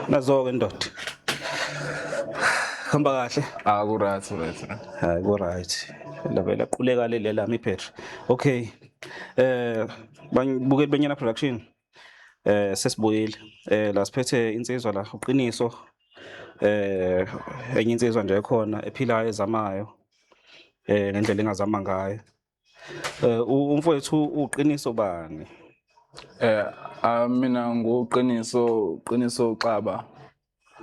Nazo-ke ndoda. Hamba kahle. Ah kuright right. Hayi kuright. Labela quleka le lela mi Petri. Okay. Eh bangibukeli benyana production. Eh sesibuyile. Eh la siphethe insizwa la uqiniso. Eh enye insizwa nje ekhona ephilayo ezamayo. Eh ngendlela engazama ngayo. Eh umfowethu uqiniso bani? Eh ah, mina nguqiniso qiniso uxaba.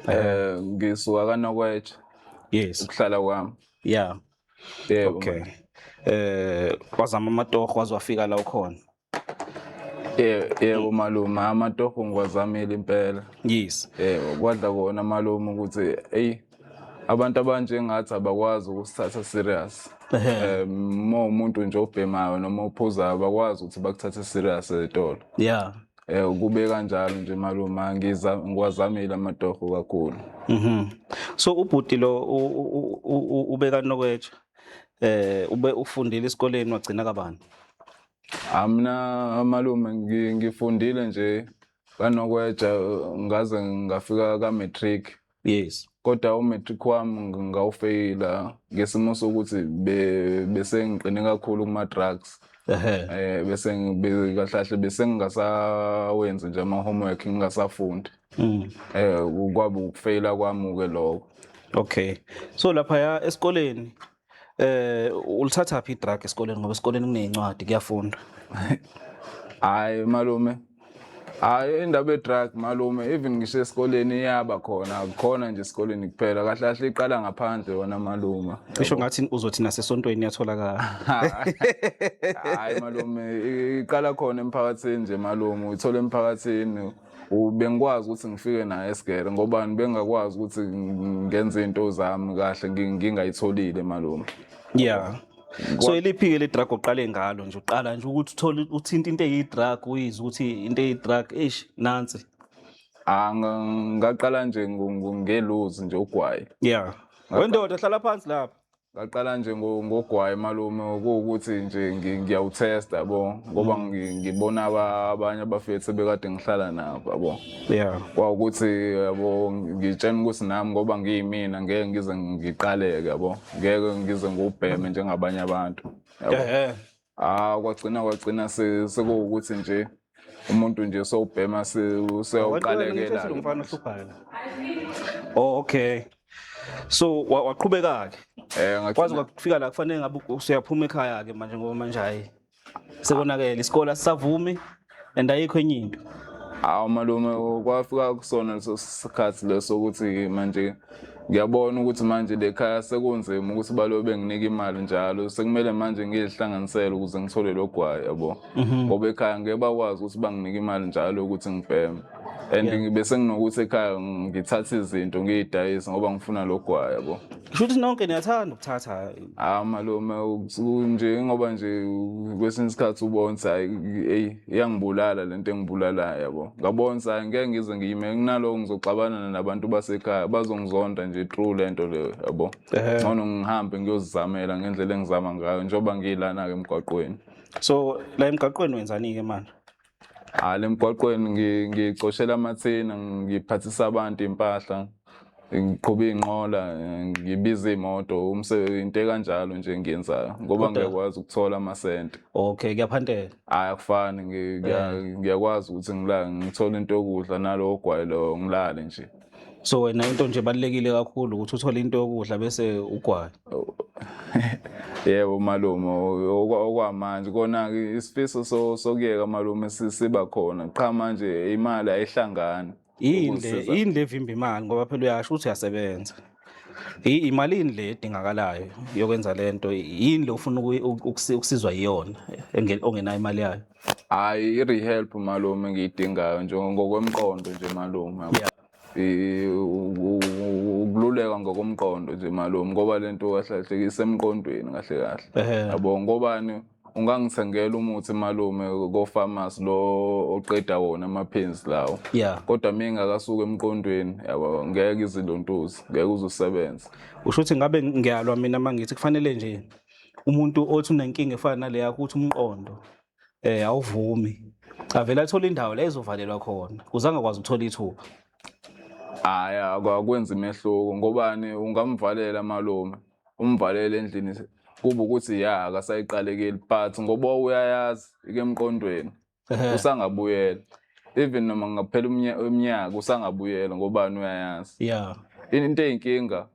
Eh. eh ngisuka kanokwetshe. Yes. Ukuhlala kwami. Yeah. Yebo. Okay. Eh wazama amatoho wazwafika la ukhona. yebo malume amatoho ngiwazamile impela yes yebo kwadla kona malume ukuthi eyi abantu abanjengathi abakwazi ukusithatha serious eh, uma umuntu nje obhemayo noma ophuzayo bakwazi ukuthi bakuthathe serious ezitolo yeah eh kube kanjalo nje maluma ngiza ngiwazamile amatoho kakhulu mhm so ubhuti lo ubeka nokwetsha eh ube ufundile esikoleni wagcina kabani Amna malume ngifundile nje kanokweja ngaze ngafika ka matric. Yes. Kodwa u matric wami ngawufeyila ngesimo sokuthi bese ngiqine kakhulu kuma drugs. Eh bese ngibekahlahle bese ngingasawenzi nje ama homework ngingasafundi. Mm. Eh kwabe ukufeyila kwami ke lokho. Okay. So lapha ya esikoleni Eh ulithatha phi drug esikoleni ngoba esikoleni kunezincwadi kuyafunda. Hayi malume. Hayi indaba ye-drug malume even ngisho esikoleni iyaba khona akukhona nje esikoleni kuphela kahle kahle iqala ngaphandle wona malume cisho ngathi uzothi nasesontweni iyatholakala hayi malume iqala khona emphakathini nje malume uyithola emphakathini bengikwazi ukuthi ngifike naye esigere ngoba bengakwazi ukuthi ngenze izinto zami kahle ngingayitholile malume yeah so iliphi-ke le drug oqale ngalo nje uqala nje ukuthi uthole uthinta into eyi-drug uyizwe ukuthi into eyi-drug eish nansi ah, ngaqala nje ngeluzi nje ugwayi yeah wendoda hlala phansi lapha Ngaqala nje ngogwayi malume kuwukuthi nje ngiyawuthesta yabo ngoba mm. ngibona abanye abafethu ebekade ngihlala nabo yabo yeah kwawukuthi yabo ngitshena ukuthi nami ngoba ngiyimina ngeke ngize ngiqaleke yabo ngeke ngize ngubheme njengabanye abantu yabo Ah kwagcina kwagcina se- sekuwukuthi nje umuntu nje sowubhema se- usewuqalekela Lo mfana ohluphayo la. Oh okay. So wa- waqhubeka ke. Eh Kwaze ngagcina kwafika la kufanele ngabe usuyaphuma ekhaya ke manje ngoba manje hayi. Sekonakele isikole asisavumi. and ayikho enye into hawu malume kwafika kusona leso sikhathi leso ukuthi manje ngiyabona ukuthi manje le khaya sekunzima ukuthi balobe benginika imali njalo sekumele manje ngiyihlanganisele ukuze ngithole lo gwayi yabo mhm. ngoba ekhaya ngeke bakwazi ukuthi banginike imali njalo ukuthi ngibheme and ngibe senginokuthi ekhaya ngithathe izinto ngiyidayise ngoba ngifuna lo gwayi yabo Kusho ukuthi nonke niyathanda ukuthatha. Ah malume nje ngoba nje kwesinye isikhathi ubonsa hey iyangibulala lento engibulalayo yabo. Ngabonsa ngeke ngize ngiyime kunaloko ngizoxabana nabantu basekhaya bazongizonda nje true lento leyo yabo. Ngcono ngihambe ngiyozizamela ngendlela engizama ngayo njengoba ngilana ke emgwaqweni. So la emgaqweni wenzani ke manje? Hayi lemgwaqweni ngicoshela amathina ngiphathisa abantu impahla ngiqhuba iy'nqola ngibiza iy'moto umsebenzi into ekanjalo nje engiyenzayo ngoba ngiyakwazi ukuthola amasente okay kuyaphantela hhayi akufani eh. ngiyakwazi ukuthi ngilale ngithole into yokudla nalowo gwayilo ngilale nje so wena into nje ebalulekile kakhulu ukuthi uthole into yokudla bese ugwaye yebo malume okwamanje kona isifiso sokuyeka malume siba khona qha manje imali ayihlangani yini le yini le vimba imali ngoba phela uyasho ukuthi uyasebenza imalini le edingakalayo yokwenza lento yini le ufuna ukusizwa iyona ongenayo imali yayo Hayi i-rehelp malume ngiyidingayo nje ngokwemqondo nje malume yabo. Yeah. Eh, u- u- u- ukululeka ngokomqondo nje malume ngoba le nto kahle kahle isemqondweni kahle kahle Ehhe. yabo ngobani ungangithengela umuthi malume kofamasi lo oqeda wona amaphenzi lawo Yeah. kodwa mina ngakasuka emqondweni yabo ngeke izilontuzi ngeke uzusebenza Usho ukuthi ngabe ngiyalwa mina mangithi kufanele nje umuntu othi unenkinga efana naleya ukuthi umqondo eh awuvumi avela athola indawo la ezovalelwa khona uzange kwazi ukuthola ithuba hayi akwenzi mehluko ngobani ungamvalela malume umvalele endlini kuba ukuthi ya akasayiqalekeli but ngoba uyayazi ikemqondweni usangabuyela even noma ngaphela umnyaka usangabuyela ngobani uyayazi yeah into eyinkinga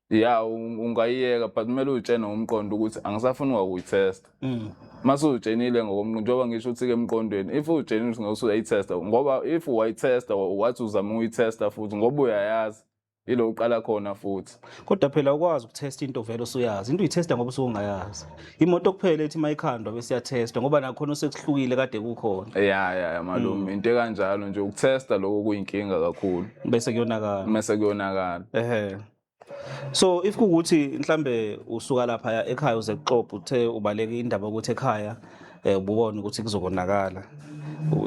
ya ungayiyeka but kumele uyitshene ngomqondo ukuthi angisafuni ngakuyitesta mm. mase uyitshenile ngokomqondo njengoba ngisho ukuthi-ke emqondweni if uyitshenile ukuthi ngeke usuyayitesta ngoba if wayitesta wathi uzama ukuyitesta futhi ngoba uyayazi Yilo uqala khona futhi. Kodwa phela ukwazi ukutest into vele usuyazi. Into uyitesta ngoba usungayazi. Imoto kuphela ethi mayikhandwa bese yatesta ngoba nakhona usekuhlukile kade kukhona. Ya ya ya malume mm. into ekanjalo nje ukutesta lokho kuyinkinga kakhulu. Bese kuyonakala. Bese kuyonakala. Ehhe. So if kukuthi mhlambe usuka lapha ekhaya uze kuxoxa uthe ubaleke indaba ukuthi ekhaya eh ubona ukuthi kuzokonakala.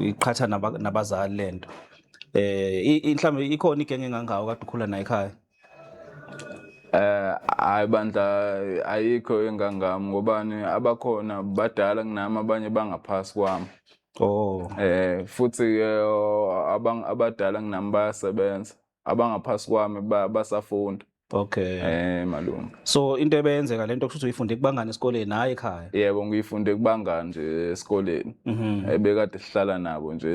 Iqhatha nabazali lento. eh mhlawumbe ikhona igenge engangawo kade ukhula nayo ekhaya Eh hayi bandla ayikho engangami ngobani abakhona badala kunami abanye bangaphasi kwami. Oh. Eh futhi ke abang abadala kunami bayasebenza. Abangaphasi kwami basafunda. Okay. Eh malume. So into ebeyenzeka lento kusho ukuthi uyifunde kubangani esikoleni hayi ekhaya. Yebo ngiyifunde kubangani nje esikoleni. Mhm. Ebekade eh, sihlala nabo nje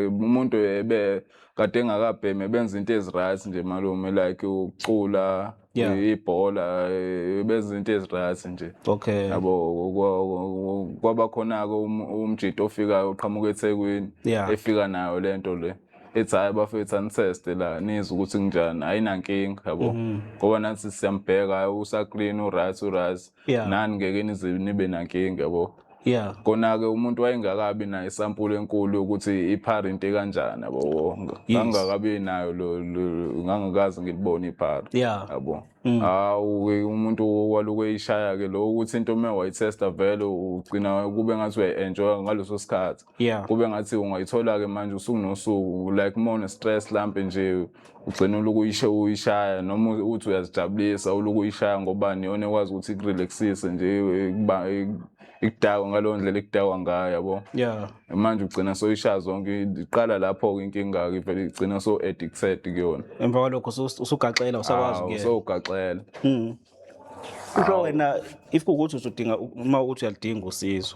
umuntu ebe kade engakabheme benza into eziright nje malume like ukucula yeah. ibhola eh, benza izinto ezirathi nje okay yabo kwaba khona-ke um, umjito ofikayo uqhamuka ethekwini yeah. efika nayo le nto le ethi hhayi bafethu anitheste la nizwe ukuthi kunjani ayinankinga yabo Mhm. ngoba nathi siyambheka hhayi usaklin uryt uryt Yeah. nani ngeke nize nibe nankinga yabo Yeah. kona-ke umuntu wayengakabi nayo isampula enkulu yokuthi iphara into ekanjani yabo ngangingakabi nayo lo- lo- ngangikaze ngilibone iphara Yeah. yabo Mm. hawu-ke umuntu walokhu eyishaya-ke lo ukuthi into uma wayithesta vele ugcina kube ngathi uyayi-enjoya ngaleso sikhathi yeah. kube ngathi ungayithola-ke manje usuku nosuku like uma une-stress lampe nje ugcina uluku uyishe uyishaya noma uthi uyazijabulisa uluku uyishaya ngobani yona ekwazi ukuthi ikurelaxise nje ikudakwa ngaleyo ndlela ikudakwa ngayo yabo yeah. manje ugcina soyishaya zonke iqala lapho-ke inkinga-ke ivele igcina so-addicted kuyona emva kwalokho usugaxela usakwazi usowugaxela hmm. kusho wena if kukuthi uzodinga uma uthi uyalidinga usizo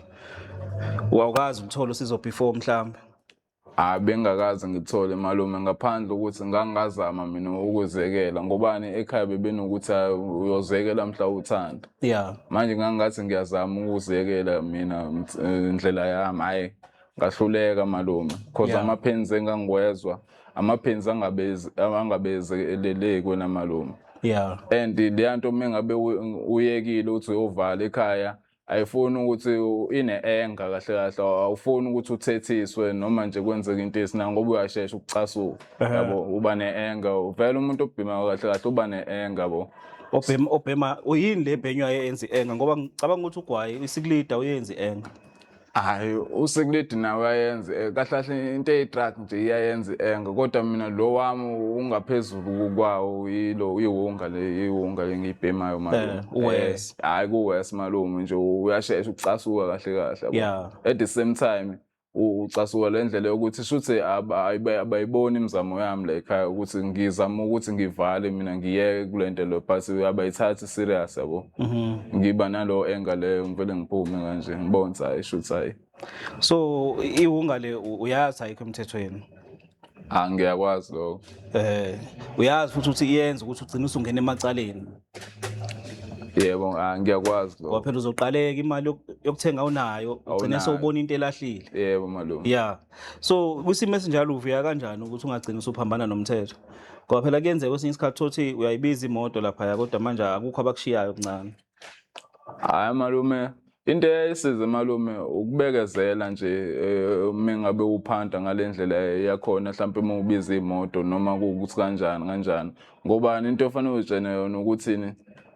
wawukazi ukuthola usizo before mhlawumbe hayi bengakaze ngithole malume ngaphandle ukuthi ngangazama mina ukuzekela ngobani ekhaya bebenokuthi "Hayi, uyozekela mhla uthanda yeah manje ngangathi ngiyazama ukuzekela mina ms- eh, ndlela yami hhayi ngahluleka malume cause yeah. amaphenzi engangiwezwa amaphenzi angabezeleleki wena malume yeah and leya nto uma ngabe uyekile ukuthi uyovala ekhaya ayifuni ukuthi ine-enga kahle kahle awufuni ukuthi uthethiswe noma nje kwenzeka into esina ngoba uyashesha ukucasuka yabo uba ne-enga vele umuntu obhimayo kahle kahle uba ne-enga bo obhema obhema uyini le bhenywa eyenza i-enga ngoba ngicabanga ukuthi ugwayi isikulida uyenza i-enga hayi usekuledi nawe uyayenza eh, kahle kahle into eyi-truck nje iyayenza i-enga kodwa mina lo wami ungaphezulu kwawo yilo iwunga le iwunga le ngiyibhemayo malume Eh, uwes. Eh, hayi kuwes malume nje uyashesha ukucasuka kahle kahle yabo. Yeah. at the same time u- ucasuka le ndlela yokuthi shuthi aba- ayibe- abayiboni imizamo yami la ekhaya ukuthi ngizama ukuthi ngivale mina ngiyeke kule nto le but abayithathi serious yabo mhm. ngiba nalo enga leyo ngivele ngiphume kanje ngibonsa hayi shuthi hayi so iwunga le uyazi ayikho emthethweni Ah ngiyakwazi lokho. Eh uyazi futhi ukuthi iyenza ukuthi ugcine usungena emacaleni. Yebo ah ngiyakwazi lokho. Ngoba phela uzoqaleka imali yokuthenga unayo ugcine sewubona into elahlile. Yebo malume. Yeah. so kwisimo esinjalo uvuya kanjani ukuthi ungagcina usuphambana nomthetho ngoba phela kuyenzeka kwesinye isikhathi thothi uyayibiza imoto laphaya kodwa manje akukho abakushiyayo kuncane hayi malume into eyayisize malume ukubekezela nje eh, uma ngabe uphanta ngale ndlela yakhona mhlawumpe uma ubiza imoto noma kuwukuthi kanjani kanjani ngobani into ofanele uzitshene yona ukuthini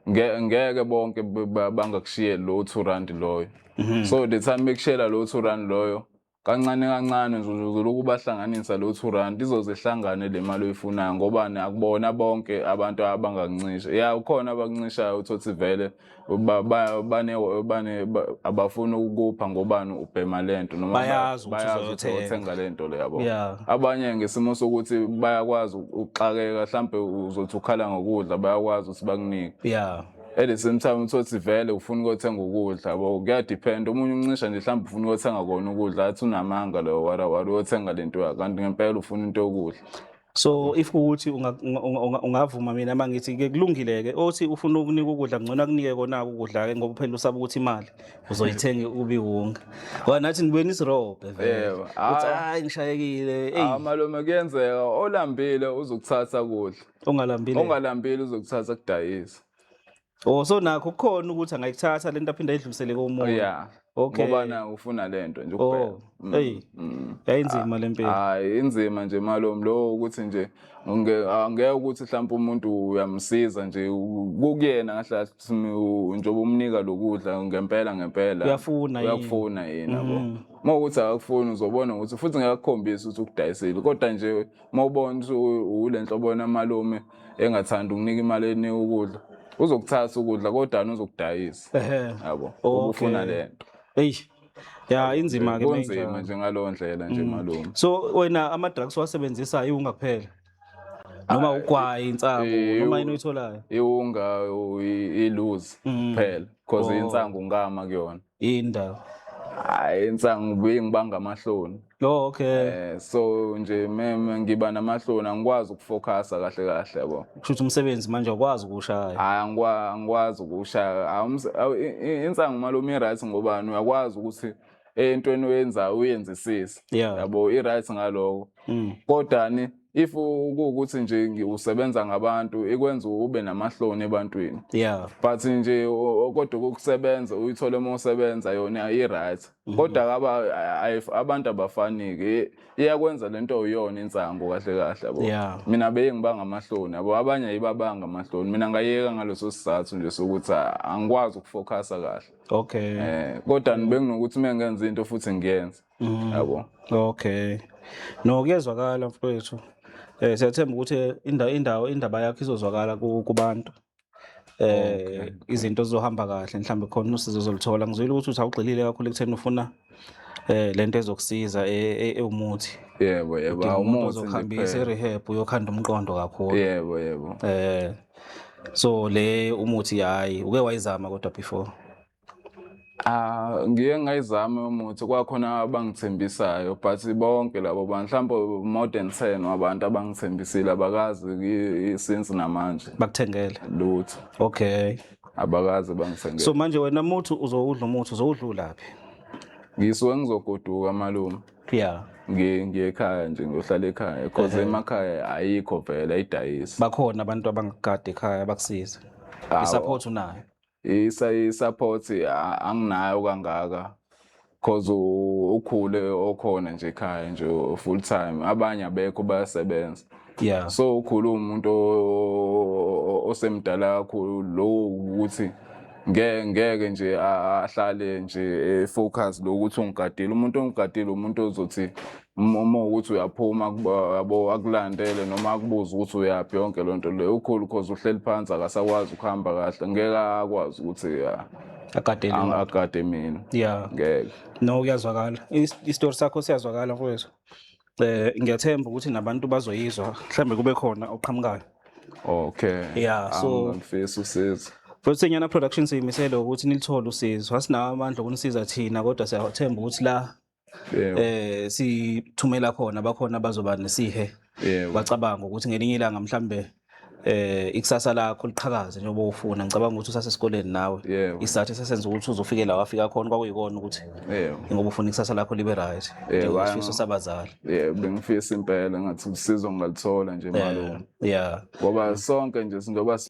ngeke bonke bangakushiyeli lowo two rand loyo mhm. so the time bekushiyela lowo two rand loyo Kancane kancane nje uzolokhu ubahlanganisa lo two rand izoze ihlangane le mali oyifunayo ngobani akubona bonke abantu abangakuncisha ya ukhona abakuncishayo uthothi vele ba- ba- bane- bane- ba- abafuni ukukupha ngobani ubhema le nto noma Bayazi ukuthi bayazi ukuthi uzoyothenga. uthenga le nto le yabo Yeah. abanye ngesimo sokuthi bayakwazi ukuxakeka mhlampe uzothi ukhala ngokudla bayakwazi ukuthi bakunike ya at the same time uthi othi vele ufuna ukothenga ukudla bo kuyadepend omunye umncisha nje mhlawumbe ufuna ukothenga kona ukudla athi unamanga loyo wara wara uyothenga le nto yakho kanti ngempela ufuna into yokudla so if ukuthi unga- unga- unga- unga- ungavuma mina uma ngithi ke kulungile-ke othi ufuna ukunika ukudla ngcono akunike kona-ke ukudla-ke ngoba phela usaba ukuthi imali uzoyithenga ubiwunga ngoba nathi nibuye nisirobhe vele Yebo. ukuthi Ah. hayi ngishayekile eyi amalume kuyenzeka olambile uzokuthatha kudla ongalambile ongalambile uzokuthatha kudayisa oh so nakho kukhona ukuthi angayithatha lento aphinde ayidlulisele komuntu oh, yeah okay ngoba na ufuna lento nje ukubheka oh, mm, hey mm. yayinzima lempilo hayi inzima nje malom lo ukuthi nje ngeke ukuthi mhlawumbe umuntu uyamsiza nje kukuyena ngahle njengoba umnika lokudla ngempela ngempela uyafuna yini uyakufuna yini yabo mm. uma ukuthi akakufuni uzobona ukuthi futhi ngiyakukhombisa ukuthi ukudayisile kodwa nje uma ubona ule nhlobo yona malume engathandi ukunika imali enika ukudla uzokuthatha ukudla kodwa uzokudayisa yabo ubufuna le nto eyi ya inzima ke kunzima nje ngalowo ndlela nje mm. malume so wena ama-drugs wasebenzisa iwunga kuphela noma ah, ugwayi insangu eh, noma yini oyitholayo iwunga iluzi mm. kuphela because oh. insangu ngama kuyona yini ndaba hayi insangu ngibuye ngibanga amahloni oh okay eh so nje meme ngiba namahloni angikwazi ukufocusa kahle kahle yabo kushuthi umsebenzi manje awukwazi ukuwushaya hayi angikwa- angikwazi ukuwushaya Hawu, umse- awu, i- i- insangu malume i-right ngobani uyakwazi ukuthi entweni oyenzayo uyenzisise Yeah. yabo i-right ngaloko Mm. kodani if kuwukuthi nje ngiwusebenza ngabantu ikwenza ube namahloni ebantwini yeah but nje kodwa ukusebenza uyithole uma usebenza yona i-right mhm. kodwa abantu abafaniki iyakwenza lento uyona insangu kahle kahle bo yeah. mina beye ngibanga amahloni abo abanye ayibabanga amahloni mina ngayeka ngaleso sizathu nje sokuthi angikwazi ukufocusa kahle okay eh kodwa benginokuthi mengenza into futhi ngiyenze Mm. Yabo. Okay. No kuyezwakala mfowethu. Eh siyathemba ukuthi indawo indawo indaba yakho izozwakala ku- kubantu. Eh Okay. izinto zizohamba kahle mhlawumbe khona usizo zolithola. Ngizwile ukuthi uthi awugxilile kakhulu ekutheni ufuna eh lento ezokusiza e- e- ewumuthi. Yebo, yebo. Udinga umuntu Awumuthi nje ozokuhambisa kuphela. e-rehab uyokhanda umqondo kakhulu. Yebo, yebo. Eh so le umuthi hayi uke wayizama kodwa before. Ah, ngiye ngayizame umuthi kwakhona abangithembisayo but bonke labo bantu mhlawumbe more than 10 wabantu abangithembisile abakazi ki- since namanje bakuthengele lutho okay abakazi bangithengele so manje wena muthi uzowudla umuthi uzowudlulaphi ngisuke ngizogoduka malume yeah ngiye ngiye ekhaya nje ngiyohlala ekhaya because emakhaya ayikho vele ayidayisi bakhona abantu abangakade ekhaya bakusize Awu. i-support unayo i-support anginayo kangaka cause ukhule okhona nje ekhaya nje full time abanye abekho bayasebenza yeah so ukhule umuntu osemdala kakhulu lowo ukuthi ngeke ngeke nje ahlale nje efocus lokuthi ungigadile umuntu ongigadile umuntu ozothi Uma uma ukuthi uyaphuma akuba- yabo akulandele noma akubuze ukuthi uyaphi yonke loo nto leyo ukhulu cause uhleli phansi akasakwazi ukuhamba kahle ngeke akwazi ukuthi ya, agadele ang- agade mina ya ngeke no kuyazwakala Is- isitori sakho siyazwakala mfowethu eh ngiyathemba ukuthi nabantu bazoyizwa mhlambe kube khona oqhamukayo okay Yeah, so- angifisa usizo Futhi senyana production siyimisele ukuthi nilithole usizo. Asinawo amandla okunisiza thina kodwa siyathemba ukuthi la Yebo. eh sithumela khona bakhona bazoba nesihe Yebo. bacabanga ukuthi ngelinye ilanga mhlambe eh ikusasa lakho liqhakaze njengoba ufuna ngicabanga ukuthi usasesikoleni nawe Yebo. isizathu esesenza ukuthi uzofike la wafika khona kwakuyikona ukuthi Yebo. ngoba ufuna ikusasa lakho libe right Yebo, njengesifiso hhayi, sabazali Yebo, bengifisa impela ngathi usizo ngalithola nje malume. Eh, yeah Ngoba sonke nje singoba si-